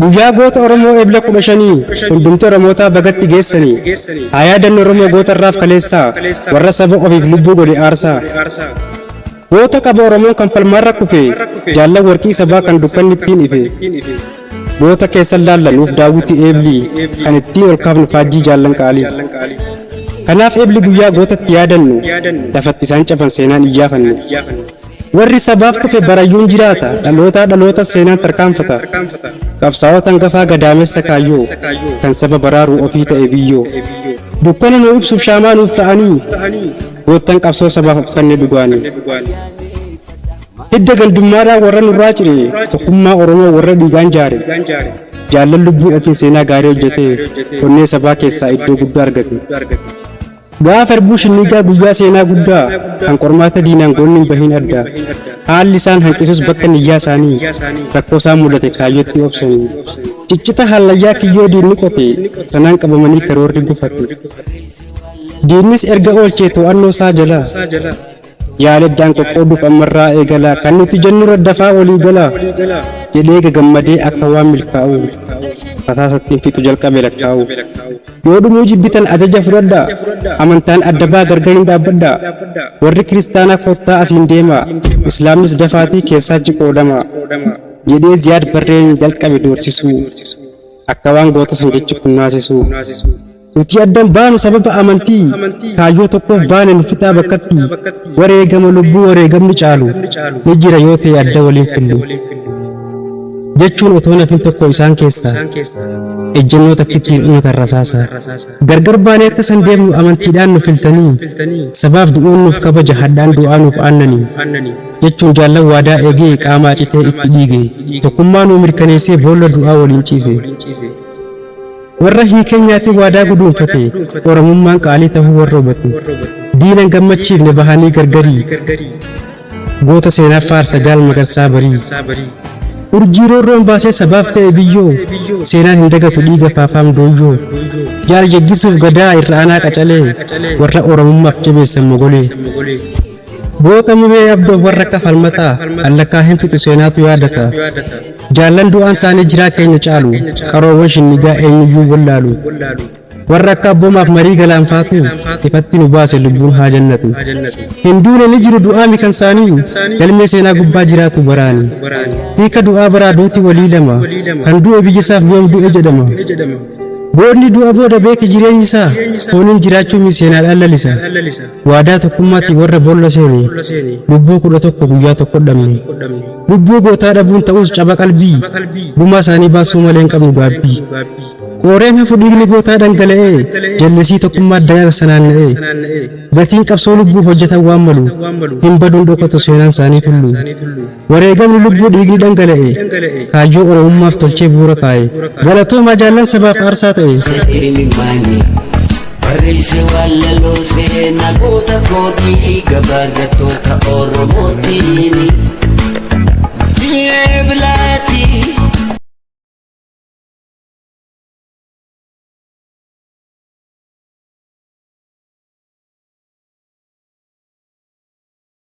Guyyaa goota Oromoo Ebla 15 hundumti Oromootaa bagatti geessanii haa yaadannu Oromoo goota irraaf kaleessaa warra saba ofiif lubbuu godhe aarsaa. Goota qaba Oromoon kan falmaarra kufe jaallan warqii sabaa kan dukkanni ittiin ife. Goota keessan laalla nuuf daawwiti eebli kan ittiin ol kaafnu faajjii jaallan qaalii. Kanaaf eebli guyyaa gootatti yaadannu lafatti isaan caban seenaan iyyaafannu. Warri sabaaf kufe barayyuun jiraata, dhalootaa dhalootas seenaan tarkaanfata. Qabsaa'ota hangafaa gadaamessa kaayyoo, kan saba baraaru ofii ta'e biyyoo. Dukkana nuu ibsuuf shaamaa nuuf ta'anii, goottan qabsoo sabaaf of kenne dhugaanii. Hidda gandummaadhaa warra nurraa cire, tokkummaa Oromoo warra dhiigaan jaare. Jaallan lubbuu ofiin seenaa gaarii hojjete, onnee sabaa keessaa iddoo guddaa argate. Gaafa Irbuu Shinniigaa guyyaa seenaa guddaa kan qormaata diinaan goonni hin bahin adda. Haalli isaan hanqisus bakka niyyaa isaanii rakkoo isaan mudate kaayyootti obsanii. Ciccita hallayyaa kiyyoo diinni qote sanaan qabamanii karoorri gufate. Diinnis erga oolchee to'annoo isaa jala. Yaadaddaan qoqqooduuf ammarraa eegalaa kan nuti jennurra dafaa walii galaa jedhee gagammadee akka waan milkaa'uu rasaasattiin fixu jalqabe lakkaa'uu. Yoo dhumuu jibbitan ajaja fudhadhaa amantaan adda baa gargar hin dhaabbadhaa warri kiristaanaa koottaa asiin deemaa islaamnis dafaatii keessaa jiqoodamaa jedhee ziyaad barreen jalqabe doorsisuu akka waan goota san jechi kun naasisuu. Nuti addan baanu sababa amantii kaayyoo tokkoof baane nu fixaa bakkatti wareegama lubbuu wareegamni caalu ni jira yoo ta'e adda waliin fillu. Jechuun otoo nafin tokko isaan keessaa ejjennoo takkittiin dhumatan rasaasa. Gargar baanee akka san deemnu amantiidhaan nu filtanii sabaaf du'uun nuuf kabaja hadhaan du'aa nuuf aannanii. jechuun jaallan waadaa eegee qaamaa citee itti dhiige tokkummaa nuu mirkaneessee boolla du'aa waliin ciise. Warra hiikee nyaatee waadaa guduunfate Oromummaan qaalii tahuu warra hubate Diina hin gammachiifne bahanii gargarii Goota seenaa faarsa jaal magarsaa barii Urjii roorroon baasee sabaaf ta'e biyyoo Seenaan hin dagatu dhiiga faafaam dooyyoo Jaal jaggisuuf gadaa irra aanaa qacalee Warra Oromummaaf jabeessan mogolee Goota muree abdoo warra akka falmataa allakkaa hin fixu seenaatu yaadata. Jaallan du'aan isaanii jiraa keenya caalu qaroowwan shinnigaa eenyuyyuu wallaalu. Warra akka abboomaaf marii galaanfaatu ifatti nu baase lubbuun haa jannatu. Hin duune ni jiru du'aa mikan isaanii galmee seenaa gubbaa jiraatu baraani. Hiika du'aa baraa duuti walii lama kan du'e biyya isaaf yoom du'e jedhama. Boodni du'a booda beeki jireenyi isaa fooniin jiraachuun seenaadhaan lalisa. Waadaa tokkummaatti warra boolla seene lubbuu kudha tokko guyyaa tokko dhabne. Lubbuu gootaa dhabuun ta'us caba qalbii gumaa isaanii baasuu malee hin qabnu gaabbii. Qooreen hafu dhiigni gootaa dhangala'ee jallisii tokkummaa daran sanaanna'ee. Gatiin qabsoo lubbuu hojjetan waan malu hin baduun dhokatu seenaan isaanii tullu. Wareegamni lubbuu dhiigni dhangala'e kaayyoo Oromummaaf tolchee bu'uura kaa'e. Galatoomaa jaallan sabaaf aarsaa ta'e. Imimmaani barreesse wallaloo seenaa goota koodii gabaarrattoota Oromootiin. Ji'ee bilaatii.